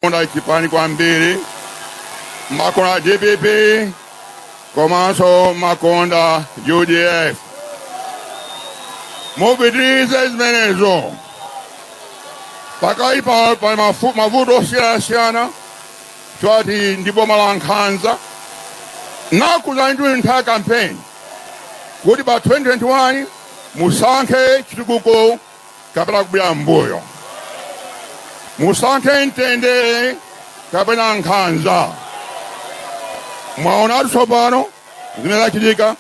Konda chipani kwambiri makonda dpp komanso makonda udf mupitirize zimenezo pakali pa pa mafu- mavuto osiyanasiyana choti ndi boma la nkhanza nakuuzani nthawi ya kampeni kuti pa 2021 musankhe chitukuko kapena kubwera m'mbuyo musankhe mtendere kapena nkhanza mwaonatu tsopano zimene zachitika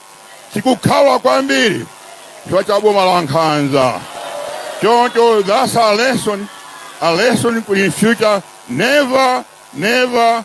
tikukhaula kwambiri chifukwa cha boma la nkhanza choncho that's a lesson a lesson in future never never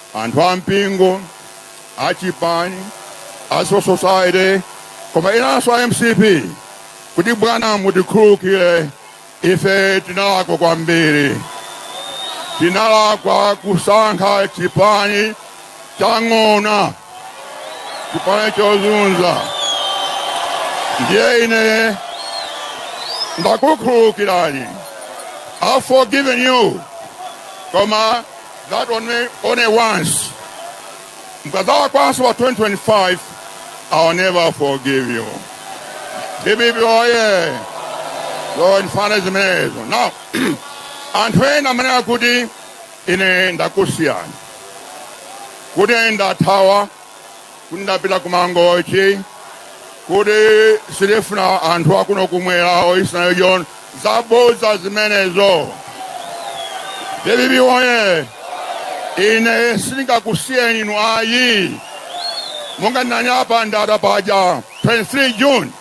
Anthu a mpingo, a chipani, a civil society koma enanso a mcp kuti bwana mutikhululukire ife tinalakwa kwambiri. Tinalakwa kusankha chipani cha ng'ona, chipani chozunza. Ndiye ine ndakukhululukirani. I've forgiven you. Koma that only only once. Mukazalakwanso pa 2025, I'll never forgive you. DPP oye. Lord mfana zimenezo. Now, anthu ena amanena kuti ine ndakusiyani. Kuti ine ndathawa Kuti ndapita ku Mangochi kuti sindifuna anthu akuno kumwera or Eastern region. Zabodza zimenezo. Dpp woye! Ine sindingakusiyeni inu ayi. Monga ndinanena pa Ndata paja 23 June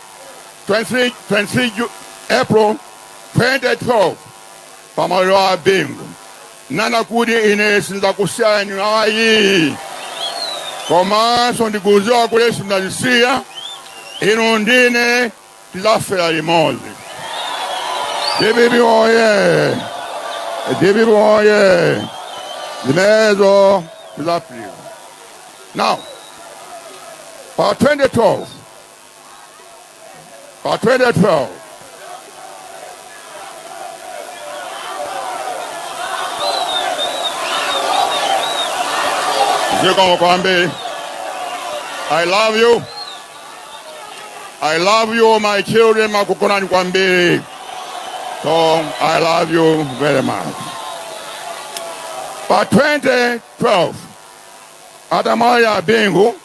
23, 23 Ju- April 2012 Pamaliro a Bingu nanena kuti ine sinzakusiyani ayii komanso ndikuziwa kuti simzandisiya inu ndi ine tizafela limozi dpp oye dpp oye zimenezo tizafika now pa 2012 Pa 2012 zikomo kwambiri. I love you. I love you my children makukonani kwambiri. So I love you very much. Pa 2012 atamwalira Bingu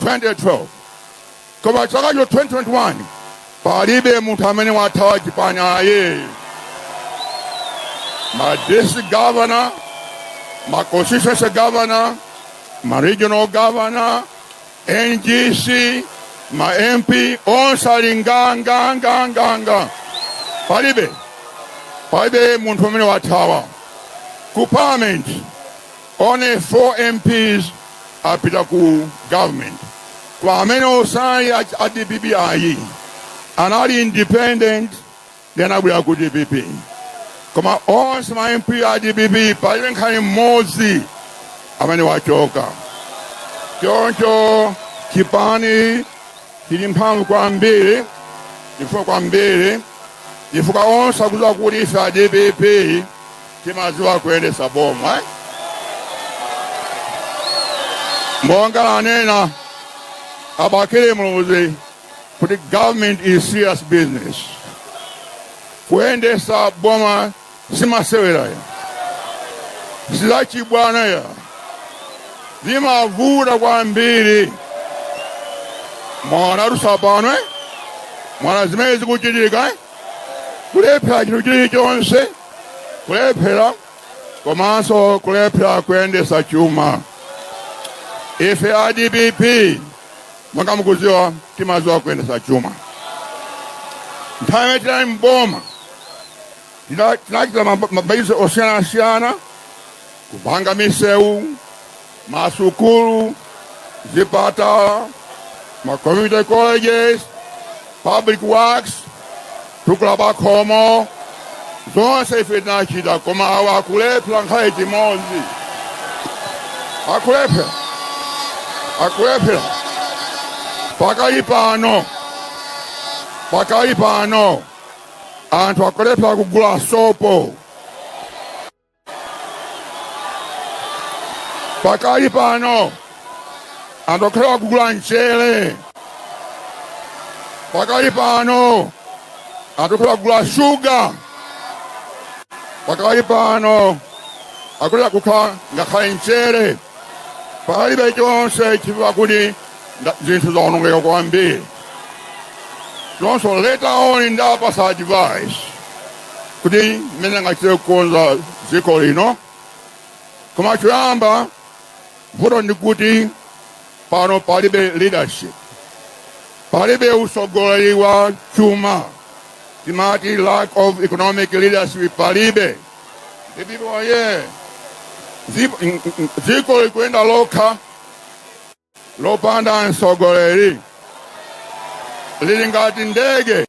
2012 koma chaka cha 2021 palibe munthu amene wathawa chipani ayi ma district governor ma constituency governor ma regional governor ngc ma mp onse ali nganganganganga palibe palibe munthu amene wathawa ku parliament Only four MPs apita ku government koma amene sanali a dpp ayi anali independent ndi anabwera ku dpp koma onse ma mp a dpp palibe nkhale mmodzi amene wachoka choncho chipani chili mphamvu kwambiri champhamvu kwambiri chifukwa onse akudziwa kuti ife a dpp timadziwa kuyendesa boma eh? monga anena abakili muluzi kuti government is serious business kuyendesa boma simasewera ayi sizachibwana ayi zimavuta kwambiri mwaona tsopano eh? mwaona zimene zikuchitika eh? kulephera chinthu chilichonse kulephera komanso kulephera kuyendesa chuma ife a dpp monga mukuziwa timaziwa kuyendesa chuma nthawi imene tinali mboma tinachita mabayizo osiyana-siyana kupanga misewu Masukulu, zipatala, ma community colleges, public works, tukula pakhomo, zonse ife tinachita koma awa akulephera nkhale chimodzi akulephera akulephera pakali pano pakali pano anthu akulephera kugula sopo pakali pano anthu akulephera kugula mchere pakali pano anthu akulephera kugula shuga pakali pano akulephera kugula ngakhale mchere palibe chonse chifukwa kuti nda- zinthu zaonongeka kwambiri so later on ndiapatsa advice ya mmene angachite kukonza dziko lino koma choyamba vuto ndi kuti pano palibe leadership palibe utsogoleri wa chuma timati lack of economic leadership palibe Dpp oyee! Dziko likuyenda lokha lopanda mtsogoleri. Lili ngati ndege,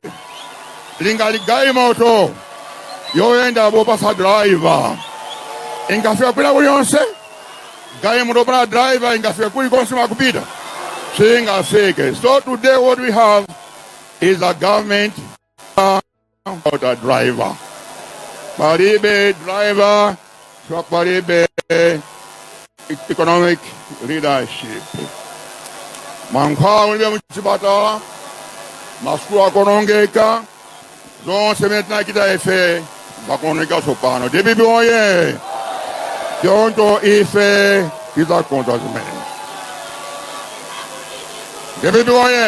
lili ngati galimoto yoyenda popanda driver. Ingafika kwina kulikonse? Galimoto yopanda driver ingafika kulikonse kumene ikupita? Siingafike. So today what we have is a government Out a driver. Palibe driver ka palibe economic leadership. Mankhwala mulibe muchipatala, masukulu akuonongeka, zonse zimene tinachita ife zaonongeka tsopano dpp oye choncho ife tidzakonza zimene dpp oye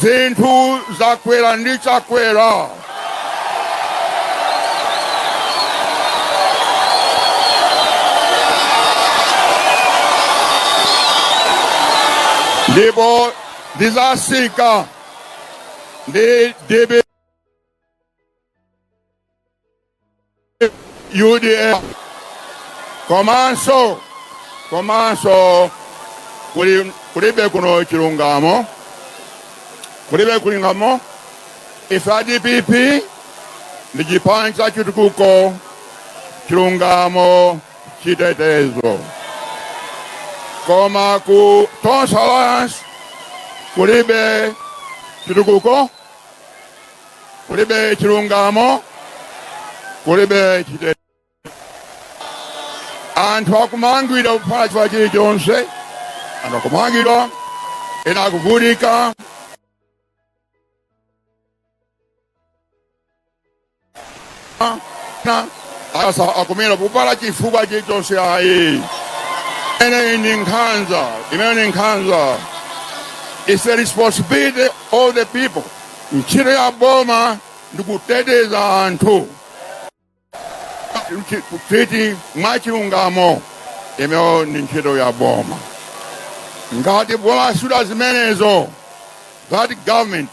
Zinthu zakwera ndi Chakwera. Ndipo zidzatsika ndi DPP. udf komanso komanso kuli kulibe kuno chilungamo kulibe chilungamo ife a dpp ndi chipani cha chitukuko chilungamo chitetezo koma ku tonse alliance kulibe chitukuko kulibe chilungamo kulibe chite anthu akumangidwa popanda chifukwa chilichonse anthu akumangidwa ena akuvutika asa akumira popanda chifukwa chilichonse ayi imeneyi ndi nkhanza imeyo ndi nkhanza its a responsibility of the people ntchito ya boma ndi kuteteza anthu Mchi- kuti mwachilungamo imeyo ndi ntchito ya boma ngati boma silichita zimenezo that government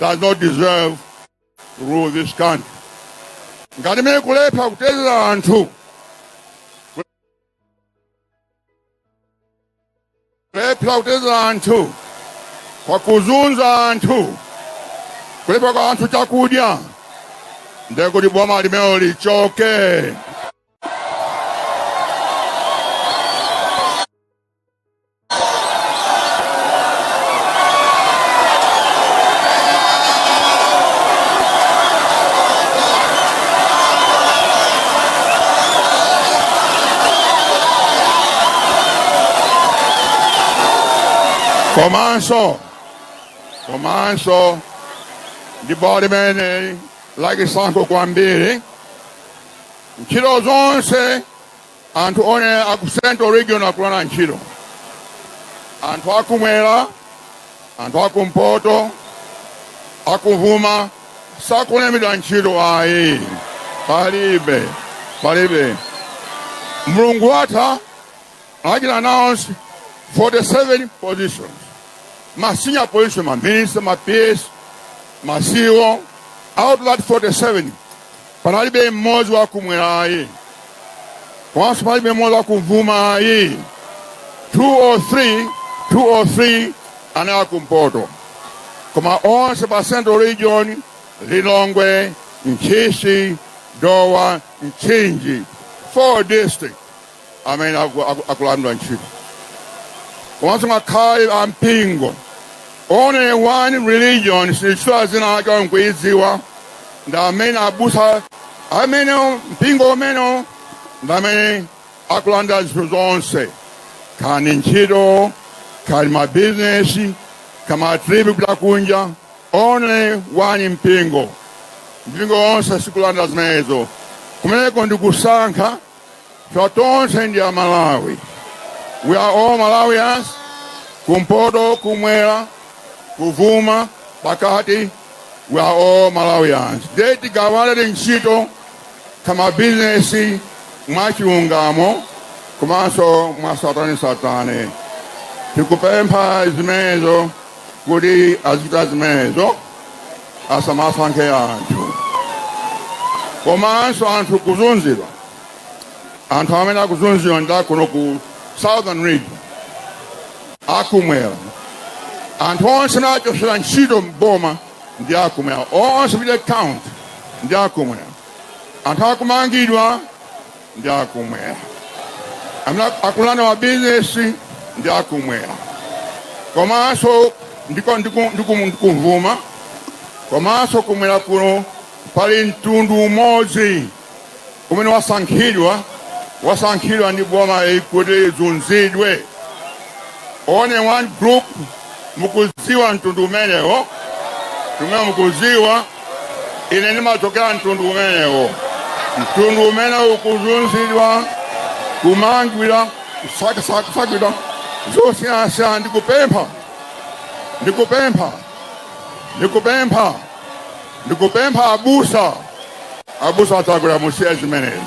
does not deserve to rule this country. Ngati limene likulephera kuteteza anthu kulephera kuteteza anthu koma kuzunza anthu kulephera kupatsa anthu chakudya ndekuti boma limelo lichoke. komanso komanso ndi boma limeneli lachisankho kwambiri ntchito zonse Anthu onse aku central region akulandira ntchito, anthu akumwera, anthu akumpoto, akuvuma sakulembedwa ntchito ayi, palibe palibe. Mlungu watha anachita announce 47 positions ma senior position ma minister ma PS ma CEO out of that 47 Panalibe mmodzi wa kumwera ayi, komanso panalibe mmodzi wa kumvuma ayi. 2 or 3 anali akumpoto, koma onse pa central region, Lilongwe, Ntchisi, Dowa, Mchinji, 4 districts amene akulandira ntchito komanso ngakhale ampingo only one religion sinditchula dzina lake mukuidziwa ndi amene abusa amenewo mpingo umenewo ndi amene akulanda zinthu zonse kani ntchito kani mabizinesi kaya ma trip kupita kunja only one mpingo mipingo yonse sikulanda zimenezo kumeneko ndikusankha Ife tonse ndi Amalawi. We are all Malawians. Kumpoto, kumwera, kuvuma, pakati. We are all Malawians. Ndiye tigawane ntchito kaya mabizinesi mwachilungamo komanso mwatsatanetsatane. Tikupempha zimenezo kuti azichita zimenezo. asamasankhe anthu komanso anthu kuzunzidwa anthu amene akuzunzidwa ndi akuno ku southern region akumwera anthu onse amene achotsedwa ntchito mboma ndi akumwera onse pita count ndi akumwera anthu akumangidwa ndi akumwera amene akulandidwa mabizinesi ndi akumwera komanso ndikumvuma komanso kumwera kuno pali mtundu umodzi umene wasankhidwa wasankhidwa ndi boma iyi kuti izunzidwe Only one group mukuziwa mtundu umenewo umene mukuziwa ine ndimachokera mtundu umenewo mtundu umene ukuzunzidwa kumangidwa kusakidwa zosiyanasiyana ndikupempha ndikupempha ndikupempha ndikupempha abusa abusa a Chakwera musiye zimenezi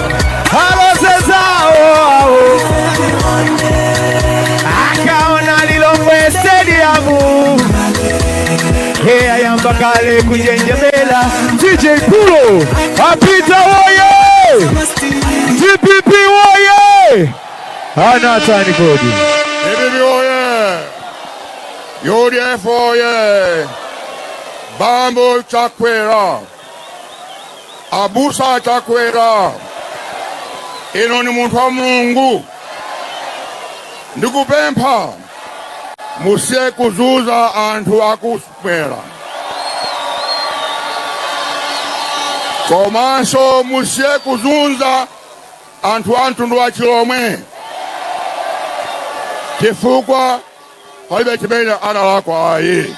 kale kujenjemela DJ Pulo apita woye DPP woye hana hatani kodi DPP woye UDF woye Bambo Chakwera Abusa a Chakwera, inu ndi munthu wa Mulungu, ndikupempha musiye kuzunza anthu akumwera, komanso musiye kuzunza anthu a mtundu wa Chilomwe chifukwa palibe chimene analakwa ayi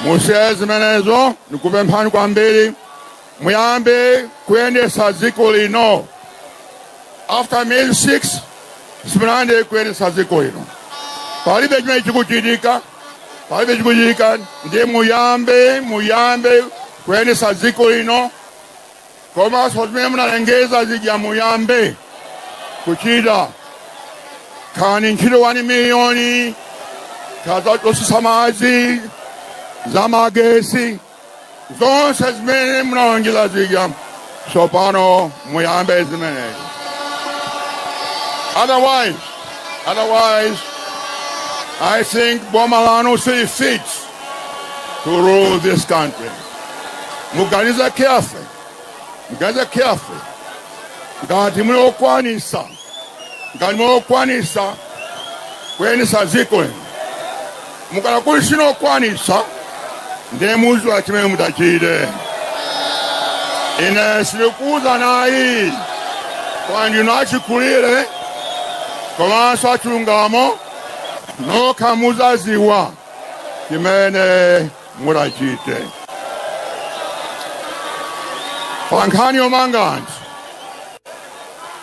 musiye zimenezo ndikupemphani kwambiri muyambe kuyendesa dziko lino after may 6 simunayambe kuyendesa dziko lino palibe chimene chikuchitika palibe chikuchitika ndiye muyambe muyambe kuyendesa dziko lino komanso zimene munalengeza zija muyambe kuchita kaya ntchito 1 miliyoni kaya zotsitsa madzi za magesi zonse zimene munalengeza zija tsopano muyambe zimenezi otherwise otherwise i think boma lanu sili fit to rule this country. Muganize carefully. Muganize carefully. Ngati muli okwanisa. Ngati muli okwanisa. Kuyendetsa dziko. Mukhala kuti simukwanitsa. Ndiye mudziwa chimene mutachite. Ine sindikuuzani ayi. Kuti ndinu achikulire. Komanso achilungamo. Nokha mudzadziwa. chimene mutachite pa nkhani yomanga anthu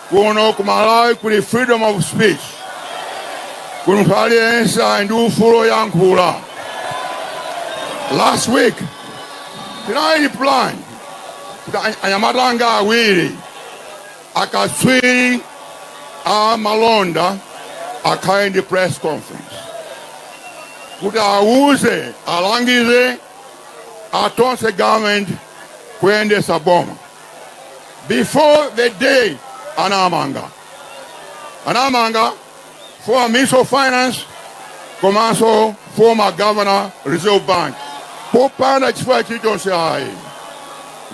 kuno ku malawi kuli freedom of speech kuno munthu aliyense ali ndi ufulu woyankhula last week tinali plan kuti anyamata anga awiri Akatswiri a malonda akhale ndi press conference kuti awuze alangize a Tonse government kuyendesa boma before the day anamanga anamanga former minister of finance komanso former governor reserve bank popanda chifukwa chilichonse ayi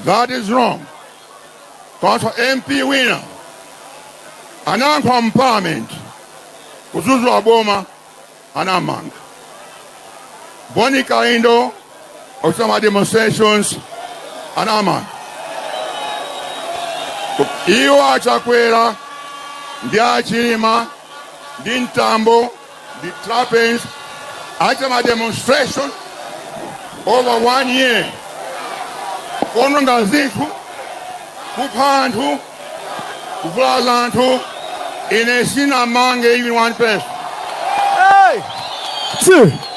that is wrong Komanso MP wina anayankhula mu parliament kudzudzula boma anamanga. Boni Kalindo ochititsa ma demonstrations anamanga. Iwo a Chakwera ndi a Chilima ndi Mtambo ndi Trapence anachita ma demonstration over one year kuononga zinthu kupha anthu kuvulaza anthu ine sinamange even one person Hey!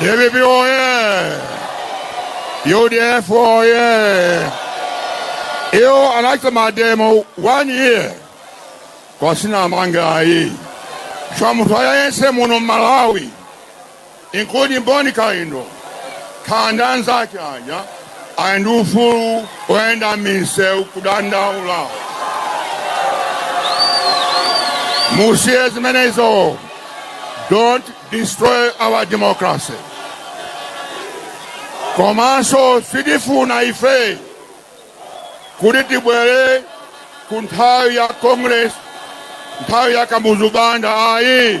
DPP oye! UDF oye! Iwo anachita mademo one year koma sinamange ayi munthu aliyense muno mmalawi including Bon Kalindo ndi anzake aja Ali ndi ufulu woyenda m'misewu kudandaula. Musiye zimenezo. Don't destroy our democracy. Komanso sitifuna ife kuti tibwerere ku nthawi ya Congress, nthawi ya Kamuzu Banda ayi.